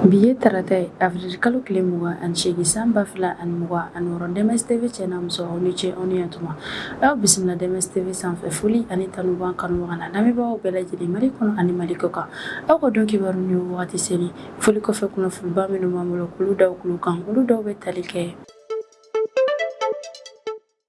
Bi ye tarata ye avril kalo tile mugan ani seegin san ba fila ani mugan ani wɔɔrɔ Dɛmɛs TV cɛ n'a muso aw ni ce aw ni yantuma aw bisimila Dɛmɛs TV sanfɛ foli ani tanu b'an kanubaga n'an lamɛnbagaw bɛɛ lajɛlen Mali kɔnɔ ani Mali kɔkan aw ka don kibaru nin wagati selen foli kɔfɛ kunnafoniba minnu b'an bolo k'olu d'aw tulo kan olu dɔw bɛ tali kɛ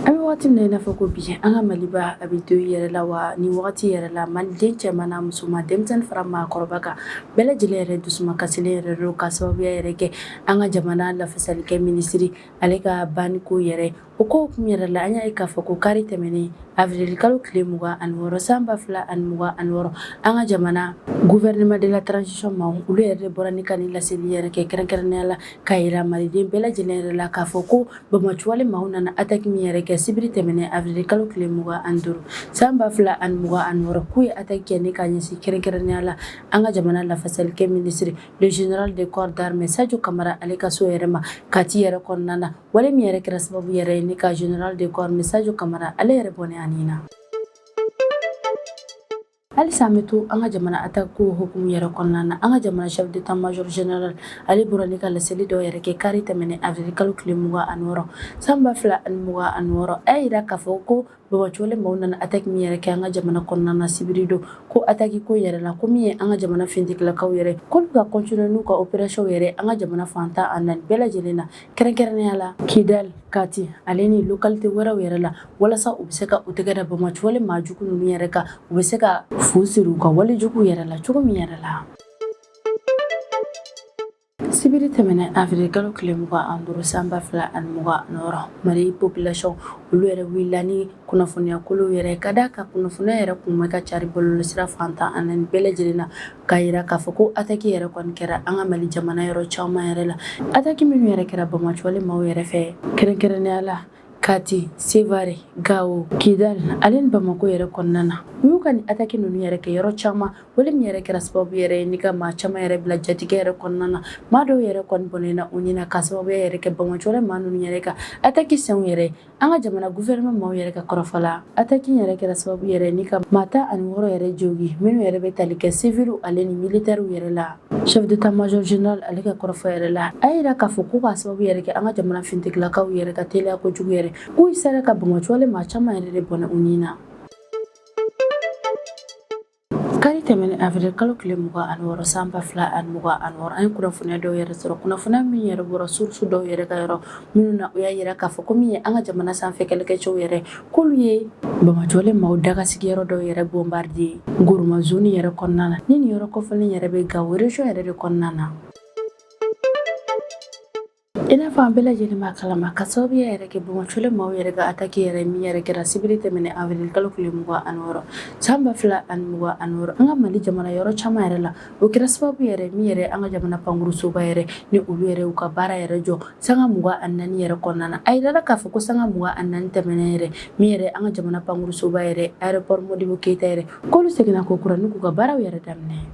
An bɛ waati min na i n'a fɔ ko bi an ka maliba a bɛ deuil yɛrɛ la wa ni wagati yɛrɛ la maliden cɛman n'a musoman denmisɛnnin fara maakɔrɔba kan bɛɛ lajɛlen yɛrɛ dusu kasilen yɛrɛ don ka sababuya yɛrɛ kɛ an ka jamana lafasali kɛ minisiri ale ka banko yɛrɛ o ko kun yɛrɛ la an y'a ye k'a fɔ ko kari tɛmɛnen avril kalo tile mugan ani wɔɔrɔ sanba fila ani mugan ani wɔɔrɔ an ka jamana gouvernement de la transition maaw olu yɛrɛ bɔra ni ka laseli yɛrɛ kɛ kɛrɛnkɛrɛnya la k'a jira maliden bɛɛ lajɛlen yɛrɛ la k'a fɔ ko Banbaanciwale maaw nana ataki min yɛrɛ kɛ sibiri tɛmɛnen avril kalo tile mugan an duuru san ba fila ani mugan ani wɔɔrɔ k'u ye ataki kɛ ni k'a ɲɛsin kɛrɛnkɛrɛnya la an ka jamana lafasalikɛ minisiri le général de corps d'armée Sadio Kamara ale ka so yɛrɛ ma Kati yɛrɛ kɔnɔna na wale min yɛrɛ kɛra sababu yɛrɛ ye ni ka général de corps d'armée Sadio Kamara ale yɛrɛ bɔnɛ a ni na Halisa an bɛ to an ka jamana ataki ko hukumu yɛrɛ kɔnɔna na an ka jamana chef d'état major général ale bɔra ni ka laseli dɔ yɛrɛ kɛ kari tɛmɛnen avril kalo tile mugan ani wɔɔrɔ sanba fila ani mugan ani wɔɔrɔ a y'a jira k'a fɔ ko banbaanciwale maaw nana ataki min yɛrɛ kɛ an ka jamana kɔnɔna na sibiri don ko ataki ko yɛrɛ la ko min ye an ka jamana finitigilakaw yɛrɛ k'olu ka continuer n'u ka opérations yɛrɛ an ka jamana fan tan ni naani bɛɛ lajɛlen na kɛrɛnkɛrɛnnenya la kidali kati ale ni lokalite wɛrɛw yɛrɛ la walasa u bɛ se ka u tɛgɛ da banbaanciwale maajugu ninnu yɛrɛ kan u bɛ se ka fu siri u ka walejugu yɛrɛ la cogo min yɛrɛ la sibiri tɛmɛnen avril kalo tile mugan an duuru sanba fila ani mugan ni wɔɔrɔ mali population olu yɛrɛ wulila ni kunnafoniyakolo yɛrɛ ka d'a kan kunnafoniya yɛrɛ kun bɛ ka cari bɔlɔlɔsira fan tan ni naani bɛɛ lajɛlen na k'a jira k'a fɔ ko ataki yɛrɛ kɔni kɛra an ka mali jamana yɔrɔ caman yɛrɛ la ataki minnu yɛrɛ kɛra banbaanciwale maaw yɛrɛ fɛ kɛrɛnkɛrɛnnenya la kati sevare gawo kidal ale ni bamako yɛrɛ kɔnɔna na u y'u ka nin ataki ninnu yɛrɛ kɛ yɔrɔ caman wale min yɛrɛ kɛra sababu yɛrɛ ye ni ka maa caman yɛrɛ bila jatigɛ yɛrɛ kɔnɔna na maa dɔw yɛrɛ kɔni bɔnɛna u ni na ka sababuya yɛrɛ kɛ banbaanciwale maa ninnu yɛrɛ ka ataki sɛnw yɛrɛ An ka jamana gouvernement maaw yɛrɛ ka kɔrɔfɔ la, attaque in yɛrɛ kɛra sababu yɛrɛ ni ka maa tan ani wɔɔrɔ yɛrɛ jogin minnu yɛrɛ bɛ tali kɛ civils ale ni militaires yɛrɛ la. Chef d'état major général ale ka kɔrɔfɔ yɛrɛ la, a y'a jira k'a fɔ ko k'a sababu yɛrɛ kɛ an ka jamana finitigilakaw yɛrɛ ka teliya kojugu yɛrɛ, k'u sera ka banbaanciwale maa caman yɛrɛ de bɔnɛ u ni na. Kari tɛmɛnen avril kalo tile mugan ani wɔɔrɔ san ba fila ani mugan ani wɔɔrɔ an ye kunnafoniya dɔw yɛrɛ sɔrɔ kunnafoniya min yɛrɛ bɔra source dɔw yɛrɛ ka yɔrɔ minnu na u y'a yira k'a fɔ ko min ye an ka jamana sanfɛ kɛlɛkɛcɛw yɛrɛ k'olu ye bɔnbɔncolen maaw daga sigiyɔrɔ dɔw yɛrɛ bonbaridi Gourma zone yɛrɛ kɔnɔna na ni nin yɔrɔ kofɔlen yɛrɛ bɛ Gao région yɛrɛ de kɔnɔna na i n'a fɔ an bɛɛ lajɛlen b'a kalama ka sababuya yɛrɛ kɛ bɔnbɔncolen maaw yɛrɛ ka ataki yɛrɛ min yɛrɛ kɛra sibiri tɛmɛnen avril kalo tile mugan ani wɔɔrɔ san ba fila ani mugan ani wɔɔrɔ an ka mali jamana yɔrɔ caman yɛrɛ la o kɛra sababu yɛrɛ min yɛrɛ an ka jamana pankurusoba yɛrɛ ni olu yɛrɛ y'u ka baara yɛrɛ jɔ sanga mugan ani naani yɛrɛ kɔnɔna na a yirala k'a fɔ ko sanga mugan ani naani tɛmɛnen yɛrɛ min yɛrɛ an ka jamana pankurusoba yɛrɛ aéroport modibo keyita yɛrɛ k'olu seginna ko kura n'u k'u ka baaraw yɛrɛ daminɛ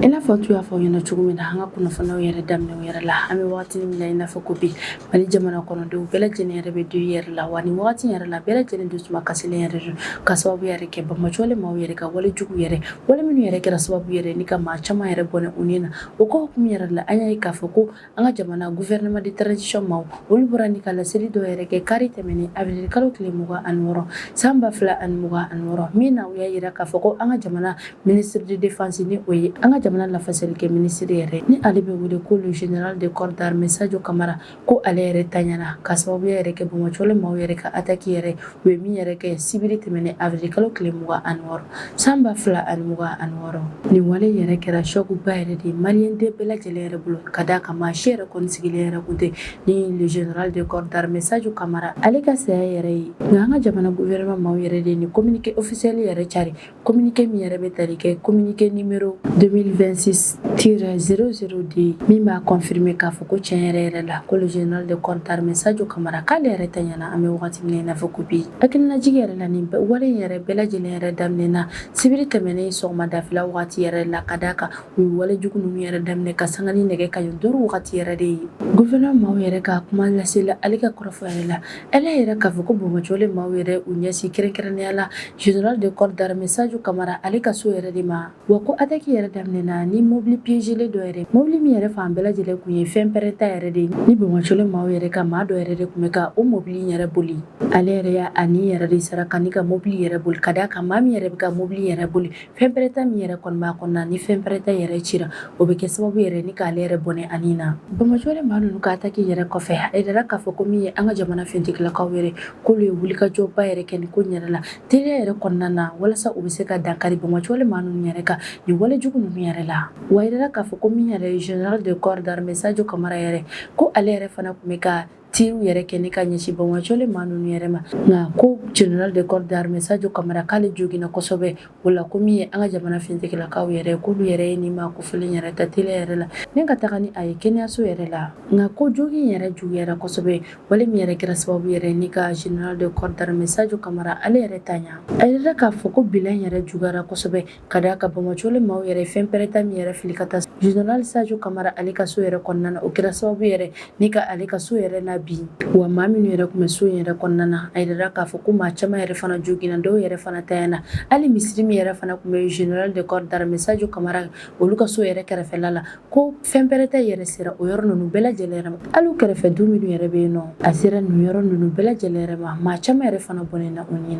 i n'a fɔ n tun y'a fɔ ɲɛ na cogo min na an ka kunnafoniyaw yɛrɛ daminɛw yɛrɛ la an bɛ wagati min na i n'a fɔ ko bi mali jamana kɔnɔdenw bɛɛ lajɛlen yɛrɛ bɛ deuil yɛrɛ la wa ni wagati yɛrɛ la bɛɛ lajɛlen dusuma kasilen yɛrɛ don ka sababu yɛrɛ kɛ bɔnbɔncolen maaw yɛrɛ ka wale jugu yɛrɛ wale minnu yɛrɛ kɛra sababu yɛrɛ ni ka maa caman yɛrɛ bɔnɛ u ni na o ko hukumu yɛrɛ la an y'a ye k'a fɔ ko an ka jamana gouvernement de transition maaw olu bɔra ni ka laseli dɔ yɛrɛ kɛ kari tɛmɛnen avril kalo tile mugan ani wɔɔrɔ san ba fila ani mugan ani wɔɔrɔ min na u y'a yira k'a fɔ ko an ka jamana ministre de défense ni o ye an ka jamana lafasalikɛ ministre yɛrɛ ni ale bɛ wele ko le général de corps d'armée sajo kamara ko ale yɛrɛ taɲana ka sababuya yɛrɛ kɛ bɔnbɔncolen maaw yɛrɛ ka ataki yɛrɛ u ye min yɛrɛ kɛ sibiri tɛmɛnen avril kalo tile mugan ani wɔɔrɔ san ba fila ani mugan ani wɔɔrɔ nin wale yɛrɛ kɛra choc ba yɛrɛ de ye maliyɛn den bɛɛ lajɛlen yɛrɛ bolo ka d'a kan maa si yɛrɛ kɔni sigilen yɛrɛ kun tɛ ni le général de corps d'armée Sadio Kamara ale ka saya yɛrɛ ye nka an ka jamana gouvernement maaw yɛrɛ de ye nin communiqué officiel yɛrɛ cari Kominike min yɛrɛ bɛ tali kɛ kominike numéro 2026 tiret 00 de ye min b'a kɔnfirime k'a fɔ ko cɛn yɛrɛ yɛrɛ la ko le général de corps d'armée sajo kamara k'ale yɛrɛ taɲana an bɛ wagati min na i n'a fɔ ko bi hakilinajigi yɛrɛ la nin wale yɛrɛ bɛɛ lajɛlen yɛrɛ daminɛna sibiri tɛmɛnen sɔgɔmada fɛla wagati yɛrɛ la ka d'a kan u ye wale jugu ninnu yɛrɛ daminɛ ka sanga ni nɛgɛ kanɲɛ duuru wagati yɛrɛ de ye gouvernement maaw yɛrɛ ka kumalasela ale ka kɔrɔfɔ yɛrɛ la Ale yɛrɛ k'a fɔ ko bɔnbɔncolen maaw yɛrɛ y'u ɲɛsin kɛrɛnkɛrɛnnenya la général de corps d'armée sajo kamara ale ka so yɛrɛ de ma wa ko ataki yɛrɛ daminɛna ni mobili piezelen dɔ yɛrɛ mobili min yɛrɛ fan bɛɛ lajɛlen tun ye fɛnpɛrɛnta yɛrɛ de ye ni bɔnbɔncolen maaw yɛrɛ ka maa dɔ yɛrɛ de tun bɛ ka o mobili yɛrɛ boli ale yɛrɛ y'a ni yɛrɛ de saraka ka mobili yɛrɛ boli ka d'a kan maa min yɛrɛ bɛ ka mobili yɛrɛ boli Fɛnpɛrɛnta min yɛrɛ kɔni b'a kɔnɔna na, ni fɛnpɛrɛnta yɛrɛ cira, o bɛ kɛ sababu yɛrɛ ni k'ale yɛrɛ bɔnɛ a ni na. Bɔnbɔncolen maa ninnu ka attaque yɛrɛ kɔfɛ, a yirala k'a fɔ ko min ye an ka jamana finitigilakaw yɛrɛ, k'olu ye wulikajɔba yɛrɛ kɛ nin ko in yɛrɛ la, teliya yɛrɛ kɔnɔna na, walasa u bɛ se ka dankari bɔnbɔncolen maa ninnu yɛrɛ kan nin wale jugu ninnu yɛrɛ la. Wa a yirala k'a fɔ ko min yɛrɛ ye Général de corps d'armée Sajo Kamara yɛrɛ, ko ale yɛrɛ fana tun bɛ ka tiriw yɛrɛ kɛ ni ka ɲɛsin bamajɔlen maa ninnu yɛrɛ ma nka ko général de corps d'armée Sadio Kamara k'ale joginna kosɛbɛ o la ko min ye an ka jamana fintigilakaw yɛrɛ k'olu yɛrɛ ye nin maa kofɔlen yɛrɛ ta teliya yɛrɛ la ni ka taga ni a ye kɛnɛyaso yɛrɛ la nka ko jogin yɛrɛ juguyara kosɛbɛ wale min yɛrɛ kɛra sababu yɛrɛ ni ka général de corps d'armée Sadio Kamara ale yɛrɛ tanya a jirala k'a fɔ ko bilan yɛrɛ juguyara kosɛbɛ ka da a kan bamajɔlen maaw yɛrɛ fɛnpɛrɛnta min yɛrɛ fili ka taa général Sajo Kamara ale ka so yɛrɛ kɔnɔna na o kɛra sababu yɛrɛ ni ka ale ka so yɛrɛ nabin wa maa minnu yɛrɛ tun bɛ so in yɛrɛ kɔnɔna na a jirala k'a fɔ ko maa caman yɛrɛ fana joginna dɔw yɛrɛ fana tayana hali misiri min yɛrɛ fana tun bɛ général de corps d'armée Sajo Kamara olu ka so yɛrɛ kɛrɛfɛla la ko fɛnpɛrɛnta yɛrɛ sera o yɔrɔ ninnu bɛɛ lajɛlen ma hali kɛrɛfɛ du minnu yɛrɛ bɛ yen nɔ a sera nin yɔrɔ ninnu bɛɛ lajɛlen ma maa caman yɛrɛ fana bɔnɛna u ni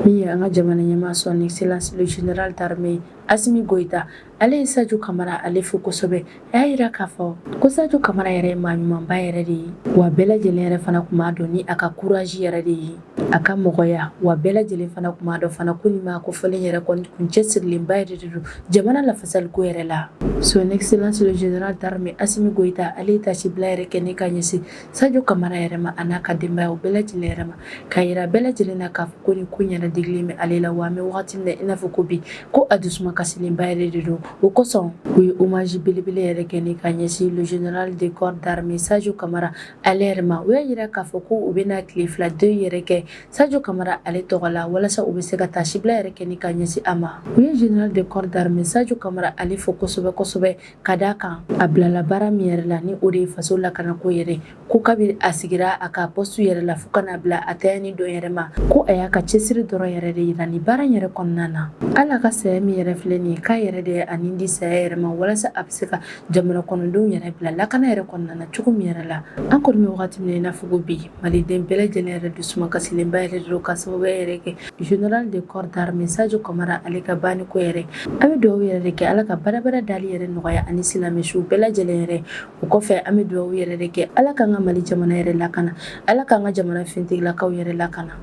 Min ye an ka jamana ɲɛmaa son excellence le general d'armee Asimi Goyita, ale ye Sajo Kamara ale fo kosɛbɛ, a y'a jira k'a fɔ ko Sajo Kamara yɛrɛ ye maa ɲumanba yɛrɛ de ye, wa bɛɛ lajɛlen yɛrɛ fana tun b'a dɔn ni a ka courage yɛrɛ de ye, a ka mɔgɔya, wa bɛɛ lajɛlen fana tun b'a dɔn fana ko nin maa kofɔlen yɛrɛ kɔni tun cɛsirilenba yɛrɛ de don jamana lafasaliko yɛrɛ la. Son excellence le general d'armee Asimi Goyita ale ye taasibila yɛrɛ kɛ ni ka ɲɛsin Sajo Kamara yɛrɛ ma an'a ka denbaya u bɛɛ lajɛlen yɛrɛ ma k'a jira bɛɛ lajɛlen na k'a fɔ ko nin ko in yɛrɛ digilen bɛ ale la wa an bɛ wagati min na i n'a fɔ ko bi ko a dusuma kasilenba yɛrɛ de don o kosɔn u ye hommage belebele yɛrɛ kɛ ni ka ɲɛsin le général de corps d'armée Sajo Kamara ale yɛrɛ ma u y'a jira k'a fɔ ko u bɛna tile fila deuil yɛrɛ kɛ Sajo Kamara ale tɔgɔ la walasa u bɛ se ka taasibila yɛrɛ kɛ ni ka ɲɛsin a ma u ye général de corps d'armée Sajo Kamara ale fo kosɛbɛ kosɛbɛ ka d'a kan a bilala baara min yɛrɛ la ni o de ye faso lakanako yɛrɛ ko kabi a sigira a ka pɔsitu yɛrɛ la fo ka n'a bila a tayani don yɛrɛ ma ko a y'a ka cɛsiri dɔrɔn yɛrɛ de jira nin baara yɛrɛ kɔnɔna na hali a ka saya min yɛrɛ filɛ nin k'a yɛrɛ de y'a ni di saya yɛrɛ ma walasa a bɛ se ka jamana kɔnɔdenw yɛrɛ bila lakana yɛrɛ kɔnɔna na cogo min yɛrɛ la an kɔni bɛ wagati min na i n'a fɔ ko bi Maliden bɛɛ lajɛlen yɛrɛ dusuma kasilenba yɛrɛ de don ka sababuya yɛrɛ kɛ général de corps d'armée Sajo Kamara ale ka banniko yɛrɛ an bɛ dugawu yɛrɛ de kɛ ala k'a badabada dali yɛrɛ nɔgɔya ani silamɛ suw bɛɛ lajɛlen yɛrɛ o kɔfɛ an bɛ dugawu yɛrɛ de kɛ ala k'an ka mali jamana yɛrɛ lakana ala k'an ka jamana fintigilakaw yɛrɛ lakana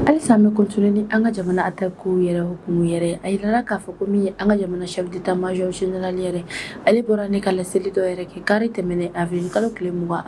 Halisa an bɛ continuer ni an ka jamana attaquew yɛrɛ hukumu yɛrɛ, a jirala k'a fɔ ko min ye an ka jamana chef d'état major général yɛrɛ, ale bɔra ni ka laseli dɔ yɛrɛ kɛ kari tɛmɛnen avril kalo tile 26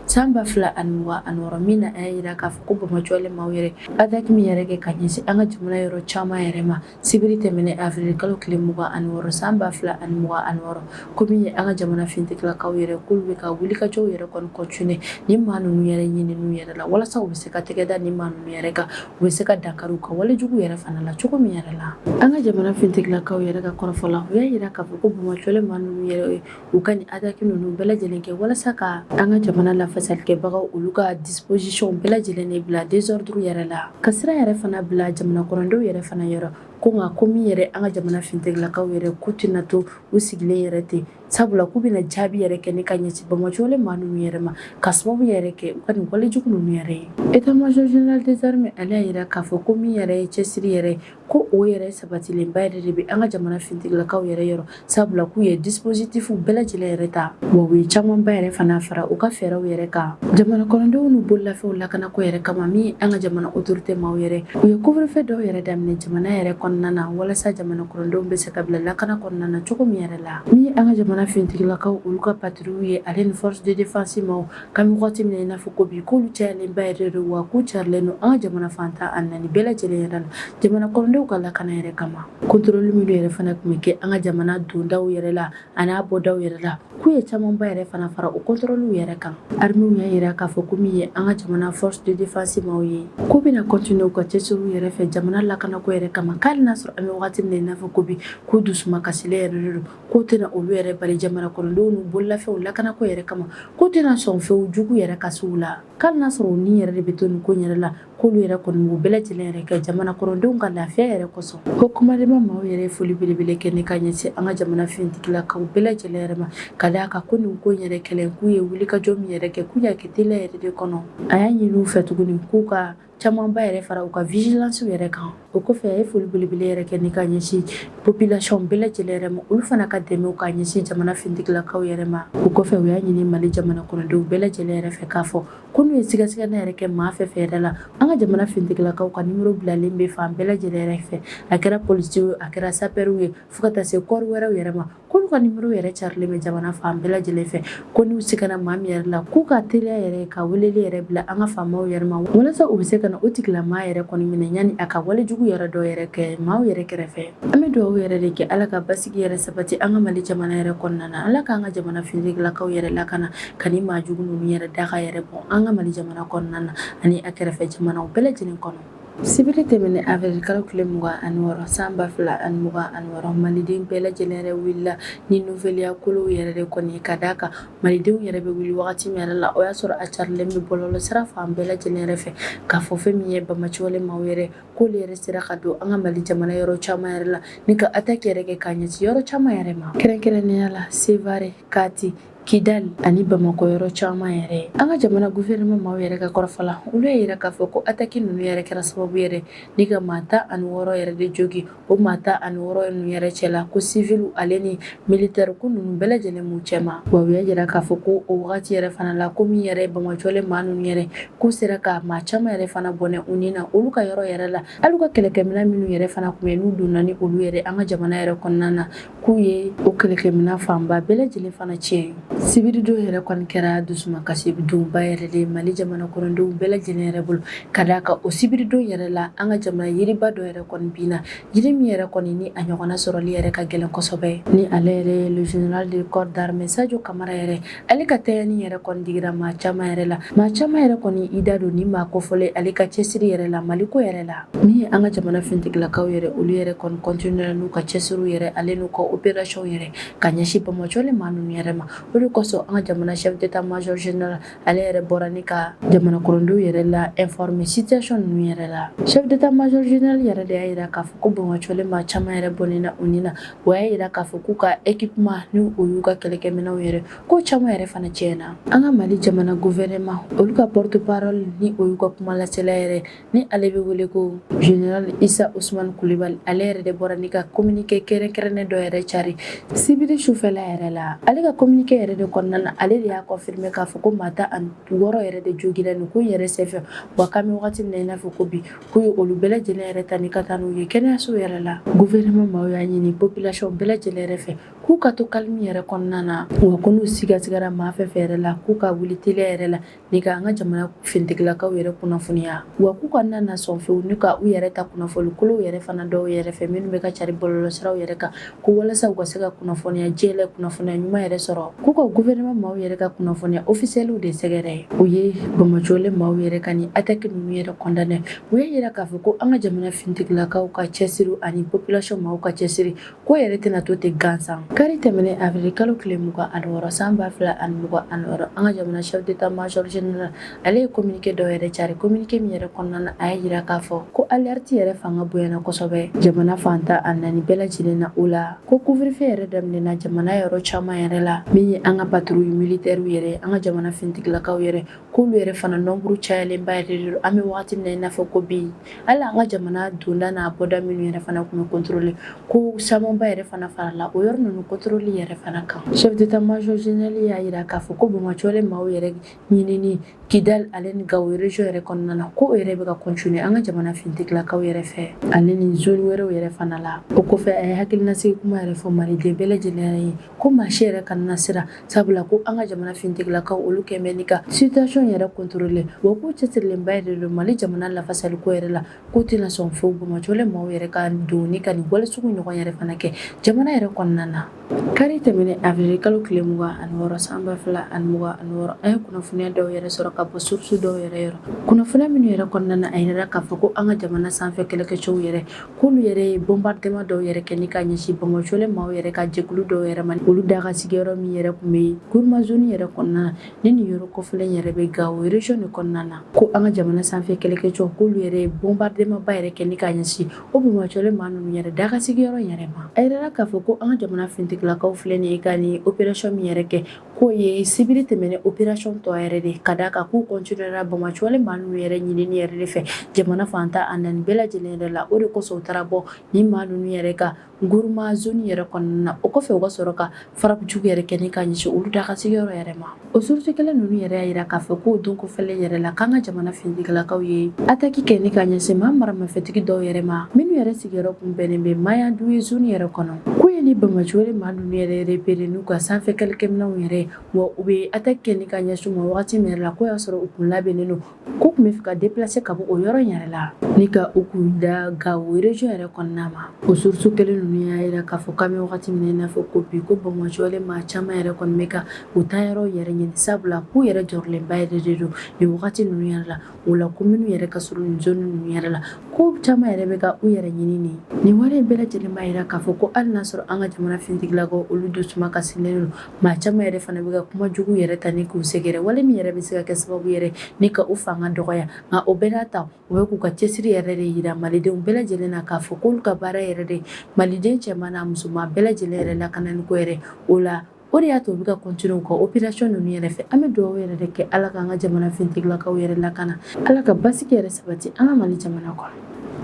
san 2026 min na a y'a jira k'a fɔ ko bamajɔlen maaw yɛrɛ attaque min yɛrɛ kɛ ka ɲɛsin an ka jamana yɔrɔ caman yɛrɛ ma Sibiri tɛmɛnen avril kalo tile 26 san 2026 ko min ye an ka jamana fintigilakaw yɛrɛ k'olu bɛ ka wulikajɔw yɛrɛ kɔni continuer nin maa ninnu yɛrɛ ɲininiw yɛrɛ la walasa u bɛ se ka tɛgɛ da nin maa ninnu yɛrɛ kan u bɛ se ka dankari u ka walejugu yɛrɛ fana la cogo min yɛrɛ la an ka jamana fintigilakaw yɛrɛ ka kɔrɔfɔ la u y'a jira k'a fɔ ko bamajɔlen maa ninnu yɛrɛ u ka nin attaque ninnu bɛɛ lajɛlen kɛ walasa ka an ka jamana lafasalikɛbagaw olu ka disposition bɛɛ lajɛlen de bila désordre yɛrɛ la ka sira yɛrɛ fana bila jamana kɔnɔdenw yɛrɛ fana yɔrɔ ko nka ko min yɛrɛ an ka jamana fintigilakaw yɛrɛ k'u tɛna to u sigilen yɛrɛ ten sabula k'u bɛna jaabi yɛrɛ kɛ ne ka ɲɛsin banbaanciwale maa ninnu yɛrɛ ma ka sababu yɛrɛ kɛ u ka nin walejugu ninnu yɛrɛ ye état-major général des armées ale y'a jira k'a fɔ ko min yɛrɛ ye cɛsiri yɛrɛ ko o yɛrɛ sabatilenba yɛrɛ de bɛ an ka jamana fintigilakaw yɛrɛ yɔrɔ sabula k'u ye dispositif bɛɛ lajɛlen yɛrɛ ta wa u ye camanba yɛrɛ fana fara u ka fɛɛrɛw yɛrɛ kan jamana kɔnɔdenw n'u bololafɛnw lakanako yɛrɛ kama min ye an ka jamana autorité maaw yɛrɛ u ye couvre-feu dɔw yɛrɛ daminɛ jamana yɛrɛ kɔnɔna na walasa jamana kɔnɔdenw bɛ se ka bila lakana kɔnɔna na cogo min yɛrɛ la min ye an ka jamana fintigilakaw olu ka patrouille ye ale ni force de défense maaw K'an bɛ waati min na i n'a fɔ ko bi k'olu cayalenba yɛrɛ don wa k'u carilen don an ka jamana fan tan ani naani bɛɛ lajɛlen yɛrɛ la jamana kɔnɔdenw ka lakana yɛrɛ kama contrôle minnu yɛrɛ fana tun bɛ kɛ an ka jamana donda yɛrɛ la a n'a bɔda yɛrɛ la k'u ye camanba yɛrɛ fana fara o contrôlew yɛrɛ kan armée y'a jira k'a fɔ ko min ye an ka jamana force de défense maaw ye k'u bɛna continuer u ka cɛsiriw yɛrɛ fɛ jamana lakanako yɛrɛ kama k'ali n'a sɔrɔ an bɛ waati min na i n'a fɔ ko bi k'u dusu ma kasilen yɛrɛ don k'o tɛna olu yɛrɛ bali jamana kɔnɔdenw n'u bololafɛnw lakanako yɛrɛ kama k'u tɛna sɔn fewu jugu yɛrɛ ka s'u la k'ali n'a sɔrɔ u ni yɛrɛ de bɛ to nin ko yɛrɛ la k'olu yɛrɛ kɔni b'u bɛɛ lajɛlen yɛrɛ kɛ jamana kɔnɔdenw ka lafiya yɛrɛ kosɔn ko commandement maaw yɛrɛ ye foli belebele kɛ ne ka ɲɛsin an ka jamana fintigilakaw bɛɛ lajɛlen yɛrɛ ma ka d'a kan ko nin ko yɛrɛ kɛlen k'u ye wulikajɔ min yɛrɛ kɛ k'u y'a kɛ teliya yɛrɛ de kɔnɔ a y'a ɲini u fɛ tuguni k'u ka Camanba yɛrɛ fara u ka vigilancew yɛrɛ kan o kɔfɛ a ye foli belebele yɛrɛ kɛ ne ka ɲɛsin population bɛɛ lajɛlen yɛrɛ ma olu fana ka dɛmɛ ka ɲɛsin jamana fintigilakaw yɛrɛ ma o kɔfɛ u y'a ɲini mali jamana kɔnɔdenw bɛɛ lajɛlen yɛrɛ fɛ k'a fɔ ko n'u ye sigasiganni yɛrɛ kɛ maa fɛn fɛn yɛrɛ la an ka jamana fintigilakaw ka nimoro bilalen bɛ fan bɛɛ lajɛlen yɛrɛ fɛ a kɛra polisi ye a kɛra sapɛriw ye fo ka taa se corps wɛrɛw yɛrɛ ma k'olu ka nimoro yɛrɛ carilen bɛ jamana fan bɛɛ lajɛlen fɛ ko n'u sigana maa min yɛrɛ la k'u ka teliya yɛrɛ ka weleli yɛrɛ bila an ka faamaw yɛrɛ ma walasa u bɛ se ka na o tigilamaa yɛrɛ kɔni minɛ yanni a ka walejugu yɛrɛ dɔ yɛrɛ kɛ maaw yɛrɛ kɛrɛfɛ an bɛ dugawu yɛrɛ de kɛ ala ka basigi yɛrɛ sabati an ka mali jamana yɛrɛ kɔnɔna na ala k'an ka jamana fintigilakaw yɛrɛ lakana ka nin maa jugu ninnu yɛrɛ daga yɛrɛ bɔ an ka mali jamana kɔnɔna na ani a kɛrɛfɛ jamanaw bɛɛ lajɛlen kɔnɔ Sibiri tɛmɛnen avril kalo tile mugan ani wɔɔrɔ san ba fila ani mugan ani wɔɔrɔ maliden bɛɛ lajɛlen yɛrɛ wulila ni nouvelleya kolo yɛrɛ de kɔni ye ka d'a kan malidenw yɛrɛ bɛ wuli wagati min yɛrɛ la o y'a sɔrɔ a carilen bɛ bɔlɔlɔ sira fan bɛɛ lajɛlen yɛrɛ fɛ k'a fɔ fɛn min ye banbaanciwale maaw yɛrɛ k'olu yɛrɛ sera ka don an ka mali jamana yɔrɔ caman yɛrɛ la ni ka attaque yɛrɛ kɛ k'a ɲɛsin yɔrɔ caman yɛrɛ ma kɛrɛnkɛrɛnnenya la Sevare Kati Kidali ani Bamakɔ yɔrɔ caman yɛrɛ, an ka jamana gouvernement maaw yɛrɛ ka kɔrɔfɔ la, olu y'a yira k'a fɔ ko attaque ninnu yɛrɛ kɛra sababu yɛrɛ ni ka maa tan ani wɔɔrɔ yɛrɛ de jogin, o maa tan ani wɔɔrɔ ninnu yɛrɛ cɛla ko civils ale ni militaires ko ninnu bɛɛ lajɛlen b'u cɛma, wa u y'a yira k'a fɔ ko o wagati yɛrɛ fana la ko min yɛrɛ bamajɔlen maa ninnu yɛrɛ k'u sera ka maa caman yɛrɛ fana bɔnɛ u ni na olu ka yɔrɔ yɛrɛ la, hali u ka kɛlɛkɛminɛn minnu yɛrɛ fana tun bɛ yen n'u donna ni olu yɛrɛ an ka jamana yɛrɛ kɔnɔna na, k'u ye o kɛlɛkɛminɛn fanba bɛɛ lajɛlen fana tiɲɛ sibiridon yɛrɛ kɔni kɛra dusumakasi donba yɛrɛ de mali jamana kɔnɔdenw bɛɛ lajɛlen yɛrɛ bolo ka d'a kan o sibiridon yɛrɛ la an ka jamana yiriba dɔ yɛrɛ kɔni binna jiri min yɛrɛ kɔni ni a ɲɔgɔnna sɔrɔli yɛrɛ ka gɛlɛn kosɛbɛ ni ale yɛrɛ ye le général de corps d'armée Sajo Kamara yɛrɛ ale ka taani yɛrɛ kɔni digira maa caman yɛrɛ la maa caman yɛrɛ kɔni i da don ni maa kofɔlen ale ka cɛsiri yɛrɛ la Mali ko yɛrɛ la min ye an ka jamana fintigilakaw yɛrɛ olu yɛrɛ kɔni kɔntinuyera n'u ka cɛsiriw yɛrɛ ale n'u ka operasiyɔn yɛrɛ ka ɲɛsin bamajɔlen maa ninnu yɛrɛ ma o de kosɔn an ka jamana chef d'état major général ale yɛrɛ bɔra ni ka jamana kɔnɔdenw yɛrɛ la informer situation ninnu yɛrɛ la chef d'état major général yɛrɛ de y'a yira k'a fɔ ko bamajɔlen maa caman yɛrɛ bɔnnen na u ni na o y'a yira k'a fɔ k'u ka équipement ni o y'u ka kɛlɛkɛminɛnw yɛrɛ ko caman yɛrɛ fana tiɲɛna an ka mali jamana gouvernement olu ka porte parole ni o y'u ka kuma lasela yɛrɛ ni ale bɛ wele ko général isa usman kulibali ale yɛrɛ de bɔra ni ka communiqué kɛrɛnkɛrɛnnen dɔ yɛrɛ cari sibiri sufɛla yɛrɛ la ale ka communiqué yɛrɛ de kɔnɔna na ale de y'a confirmer k'a fɔ ko maa tan ani wɔɔrɔ yɛrɛ de jogira nin ko yɛrɛ senfɛ wa k'an bɛ wagati min na i n'a fɔ ko bi k'u ye olu bɛɛ lajɛlen yɛrɛ ta ni ka taa n'u ye kɛnɛyaso yɛrɛ la gouvernement maaw y'a ɲini population bɛɛ lajɛlen yɛrɛ fɛ k'u ka to calme yɛrɛ kɔnɔna na wa ko n'u sigasigara maa fɛn fɛn yɛrɛ la k'u ka wuli teliya yɛrɛ la ni ka an ka jamana fintigilakaw yɛrɛ kunnafoniya wa k'u kana na sɔn fewu ni ka u yɛrɛ ta kunnafoni kolow yɛrɛ fana dɔw yɛrɛ fɛ minnu bɛ ka cari bɔlɔlɔsiraw yɛrɛ kan ko walasa u ka se ka kunnafoniya jɛlen kunnafoniya ɲuman yɛrɛ sɔrɔ k'u ka gouvernement maaw yɛrɛ ka kunnafoniya ofisiyɛliw de sɛgɛrɛ u ye bamajɔlen maaw yɛrɛ ka nin attaque ninnu yɛrɛ condamner u y'a yira k'a fɔ ko an ka jamana fintigilakaw ka cɛsiri ani population maaw ka cɛsiri k'o yɛrɛ tɛna to ten gansan kari tɛmɛnen avril kalo tile mugan ani wɔɔrɔ san ba fila ani mugan ani wɔɔrɔ an ka jamana chef d'état major général Ale ye communiqué dɔ yɛrɛ cari communiqué min yɛrɛ kɔnɔna na a y'a yira k'a fɔ ko alerte yɛrɛ fanga bonyana kosɛbɛ jamana fan tan ni naani bɛɛ lajɛlen na o la ko couvre-feu yɛrɛ daminɛna jamana yɔrɔ caman yɛrɛ la min ye an ka patrouille militairew yɛrɛ an ka jamana fintigilakaw yɛrɛ k'olu yɛrɛ fana nombre cayalenba yɛrɛ de don an bɛ waati min na i n'a fɔ ko bi hali an ka jamana donda n'a bɔda minnu yɛrɛ fana tun bɛ contrôler ko camanba yɛrɛ fana farala o yɔrɔ ninnu contrôle yɛrɛ fana kan chef d'état major général y'a yira k'a fɔ ko bamajɔlen maaw yɛrɛ ɲinini kidal ale ni gawo region yɛrɛ kɔnɔna la ko o yɛrɛ bɛ ka continuer an ka jamana finitigilakaw yɛrɛ fɛ ale ni zone wɛrɛw yɛrɛ fana la o kɔfɛ a ye hakilinasigi kuma yɛrɛ fɔ maliden bɛɛ lajɛlen ye ko maa si yɛrɛ kana siran sabula ko an ka jamana finitigilakaw olu kɔni bɛ ni ka situation yɛrɛ contrôler wa k'u cɛsirilenba yɛrɛ de don mali jamana lafasaliko yɛrɛ la k'u tɛna sɔn fewu banbaanciwale maaw yɛrɛ ka don ni ka nin wale sugu ɲɔgɔn yɛrɛ fana kɛ jamana yɛrɛ kɔnɔna na Kari tɛmɛnen awirili kalo tile mugan ani wɔɔrɔ san ba fila ani mugan ani wɔɔrɔ an ye kunnafoniya dɔw yɛrɛ sɔrɔ ka bɔ surusu dɔw yɛrɛ yɔrɔ kunnafoniya minnu yɛrɛ kɔnɔna na a yirala k'a fɔ ko an ka jamana sanfɛ kɛlɛkɛcɛw yɛrɛ k'olu yɛrɛ ye bombardement dɔw yɛrɛ kɛ ni ka ɲɛsin banbaanciwale maaw yɛrɛ ka jɛkulu dɔw yɛrɛ ma olu dagasigiyɔrɔ min yɛrɛ tun bɛ guruma zone yɛrɛ kɔnɔna na ni nin yɔrɔ kofɔlen yɛrɛ bɛ gawo region de kɔnɔna na ko an ka jamana sanfɛ kɛlɛkɛcɛw k'olu yɛrɛ ye bombardement ba yɛrɛ kɛ ni ka ɲɛsin O banbaanciwale maa ninnu yɛrɛ dagasigiyɔrɔ yɛrɛ ma a yirala k'a fɔ ko an ka jamana finitigilakaw filɛ nin ye ka nin opération min yɛrɛ kɛ k'o ye sibiri tɛmɛnen opération tɔ yɛrɛ de ka da a kan k'u continuera banbaanciwale maa ninnu yɛrɛ ɲinini yɛrɛ de fɛ jamana fan tan ani naani bɛɛ lajɛlen yɛrɛ la o de kosɔn u taara bɔ nin maa ninnu yɛrɛ kan guruma zone yɛrɛ kɔnɔna na o kɔfɛ u ka sɔrɔ ka frappe jugu yɛrɛ kɛ ni ka ɲɛsin olu dagasigiyɔrɔ yɛrɛ ma o surusu kelen ninnu yɛrɛ y'a jira k'a fɔ k'o don kofɔlen yɛrɛ la k'an ka jamana finitigilakaw ye ataki kɛ ni ka ɲɛsin maa maramafɛntigi dɔw yɛrɛ ma minnu yɛrɛ sigiyɔrɔ kun bɛnnen bɛ maya du ye zoni yɛrɛ kɔnɔ k'u ye nin banbaanciwale maa ninnu yɛrɛ repere n'u ka sanfɛ kɛlɛkɛminɛw yɛrɛ wa u bɛ ataki kɛ ni ka ɲɛsin u ma wagati min yɛrɛ la k'o y'a sɔrɔ u kun labɛnnen don K'u tun bɛ fɛ ka deplase ka bɔ o yɔrɔ in yɛrɛ la ni ka u kun da gawo region yɛrɛ kɔnɔna ma o surusu kelen ninnu y'a jira k'a fɔ k'an bɛ wagati min na i n'a fɔ ko bi ko banbaanciwale maa caman yɛrɛ kɔni bɛ ka u taayɔrɔ yɛrɛ ɲini sabula k'u yɛrɛ jɔrɔlenba yɛrɛ de don nin wagati ninnu yɛrɛ la o la ko minnu yɛrɛ ka surun nin zone ninnu yɛrɛ la ko caman yɛrɛ bɛ ka u yɛrɛ ɲini nin wale in bɛɛ lajɛlen b'a jira k'a fɔ ko hali n'a y'a sɔrɔ an ka jamana finitigilakaw olu dusuma kasilen don Maa caman yɛrɛ fana bɛ ka kuma jugu yɛrɛ ta ni k'u sɛgɛrɛ wale min yɛrɛ bɛ se ka kɛ sababu yɛrɛ ni ka u fanga dɔgɔya nka o bɛɛ n'a ta u bɛ k'u ka cɛsiri yɛrɛ de jira malidenw bɛɛ lajɛlen na k'a fɔ k'olu ka baara yɛrɛ de maliden cɛman n'a musoman bɛɛ lajɛlen yɛrɛ lakananiko yɛrɛ o la o de y'a to u bɛ ka continuer u ka opération ninnu yɛrɛ fɛ an bɛ dugawu yɛrɛ de kɛ ala k'an ka jamana finitigilakaw yɛrɛ lakana ala ka basigi yɛrɛ sabati an ka mali jamana kɔnɔ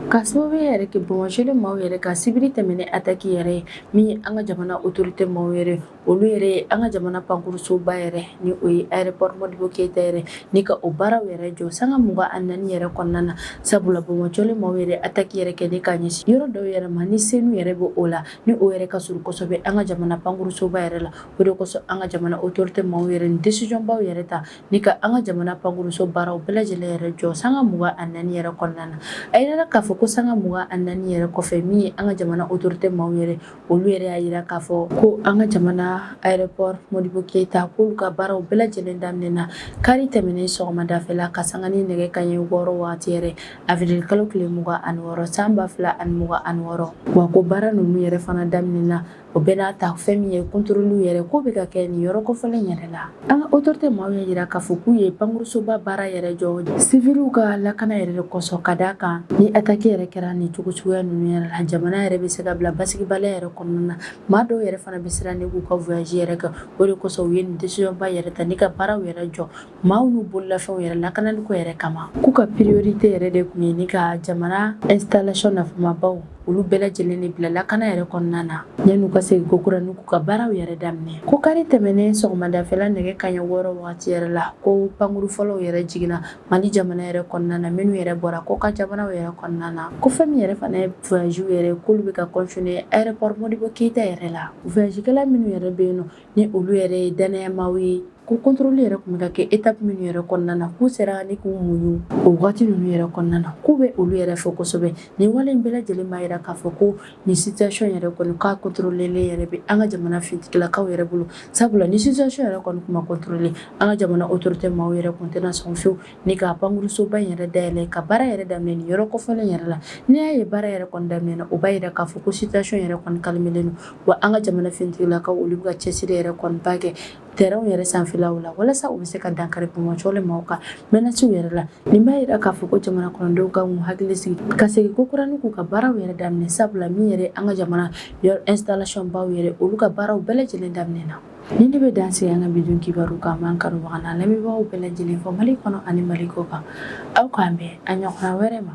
ka sababu yɛrɛ kɛ banbaanciwale maaw yɛrɛ ka sibiri tɛmɛnen ataki yɛrɛ ye Min ye an ka jamana otorite maaw yɛrɛ olu yɛrɛ ye an ka jamana pankurunsoba yɛrɛ ni o ye aéroport modibo keyita yɛrɛ ni ka o baaraw yɛrɛ jɔ sanga mugan ani naani yɛrɛ kɔnɔna na sabula banbaanciwale maaw yɛrɛ ataki yɛrɛ kɛ ni ka ɲɛsin yɔrɔ dɔw yɛrɛ ma ni senu yɛrɛ bɛ o la ni o yɛrɛ ka surun kosɛbɛ an ka jamana pankurunsoba yɛrɛ la o de kosɔn an ka jamana otorite maaw yɛrɛ nin desizɔnbaw yɛrɛ ta Ni ka an ka jamana pankuruso baaraw bɛɛ lajɛlen yɛrɛ jɔ sanga mugan ani naani yɛrɛ kɔnɔna na a jirala k'a fɔ ko sanga mugan ani naani yɛrɛ kɔfɛ min ye an ka jamana autorité maaw yɛrɛ olu yɛrɛ y'a jira k'a fɔ ko an ka jamana aéroport modibo keyita k'olu ka baaraw bɛɛ lajɛlen daminɛna kari tɛmɛnen sɔgɔmadafɛla ka sanga ni nɛgɛ kaɲɛ wɔɔrɔ waati yɛrɛ avril kalo tile mugan ani wɔɔrɔ san ba fila ani mugan ani wɔɔrɔ wa ko baara ninnu yɛrɛ fana daminɛna O bɛɛ n'a ta fɛn min ye contrôle yɛrɛ k'o bɛ ka kɛ nin yɔrɔ kofɔlen in yɛrɛ la, an ka autorité maaw y'a jira k'a fɔ k'u ye pankurusoba baara yɛrɛ jɔ civiliw ka lakana yɛrɛ de kosɔn, ka d'a kan ni attaque yɛrɛ kɛra nin cogo suguya ninnu yɛrɛ la, jamana yɛrɛ bɛ se ka bila basigibaliya yɛrɛ kɔnɔna na, maa dɔw yɛrɛ fana bɛ siran ni k'u ka voyage yɛrɛ kɛ, o de kosɔn u ye nin décision ba yɛrɛ ta ni ka baaraw yɛrɛ jɔ. maaw n'u bololafɛnw yɛrɛ lakanaliko yɛrɛ kama k'u ka priorité yɛrɛ de kun ye ni ka jamana installation nafamabaw olu bɛɛ lajɛlen de bila lakana yɛrɛ kɔnɔna na yan'u ka segin kokura ni k'u ka baaraw yɛrɛ daminɛ ko kari tɛmɛnen sɔgɔmadafɛla nɛgɛ kaɲɛ wɔɔrɔ wagati yɛrɛ la ko pankuru fɔlɔw yɛrɛ jiginna mali jamana yɛrɛ kɔnɔna na minnu yɛrɛ bɔra kɔkan jamanaw yɛrɛ kɔnɔna na ko fɛn min yɛrɛ fana ye voyagew yɛrɛ k'olu bɛ ka continuer aéroport modibo keyita yɛrɛ la voyagekɛla minnu yɛrɛ bɛ yen nɔ ni olu yɛrɛ ye danayamaw ye ko contrôle yɛrɛ kun bɛ ka kɛ étape minnu yɛrɛ kɔnɔna na k'u sera ni k'u muɲu o waati ninnu yɛrɛ kɔnɔna na k'u bɛ olu yɛrɛ fo kosɛbɛ nin wale in bɛɛ lajɛlen b'a jira k'a fɔ ko nin situation yɛrɛ kɔni k'a contrôlelen yɛrɛ bɛ an ka jamana finitigilakaw yɛrɛ bolo sabula ni situation yɛrɛ kɔni kun ma contrôler an ka jamana autorité maaw yɛrɛ kun tɛna sɔn fiyewu Ni ka pankurusoba in yɛrɛ dayɛlɛ ka baara yɛrɛ daminɛ nin yɔrɔ kofɔlen in yɛrɛ la, n'i y'a ye baara yɛrɛ kɔni daminɛna, o b'a jira k'a fɔ ko situation yɛrɛ kɔni calmelen don, wa an ka jamana finitigilakaw olu bɛ ka cɛsiri yɛrɛ kɔni ba kɛ terrain yɛrɛ sanfɛlaw la walasa u bɛ se ka dankari bɔnbɔn cɔlen maaw ka menaces yɛrɛ la. Nin b'a jira k'a fɔ ko jamana kɔnɔdenw ka k'u hakili sigi ka segin kokura ni k'u ka baaraw yɛrɛ daminɛ sabula min yɛrɛ an ka jamana yɔrɔ installation baw yɛrɛ olu ka baaraw bɛɛ lajɛlen daminɛna. Ni ne bɛ dan sigi an ka bi don kibaru kan n b'an kanubaga n'an lamɛnbagaw bɛɛ lajɛlen fo mali kɔnɔ ani mali kɔkan aw k'an bɛn a ɲɔgɔnna wɛrɛ ma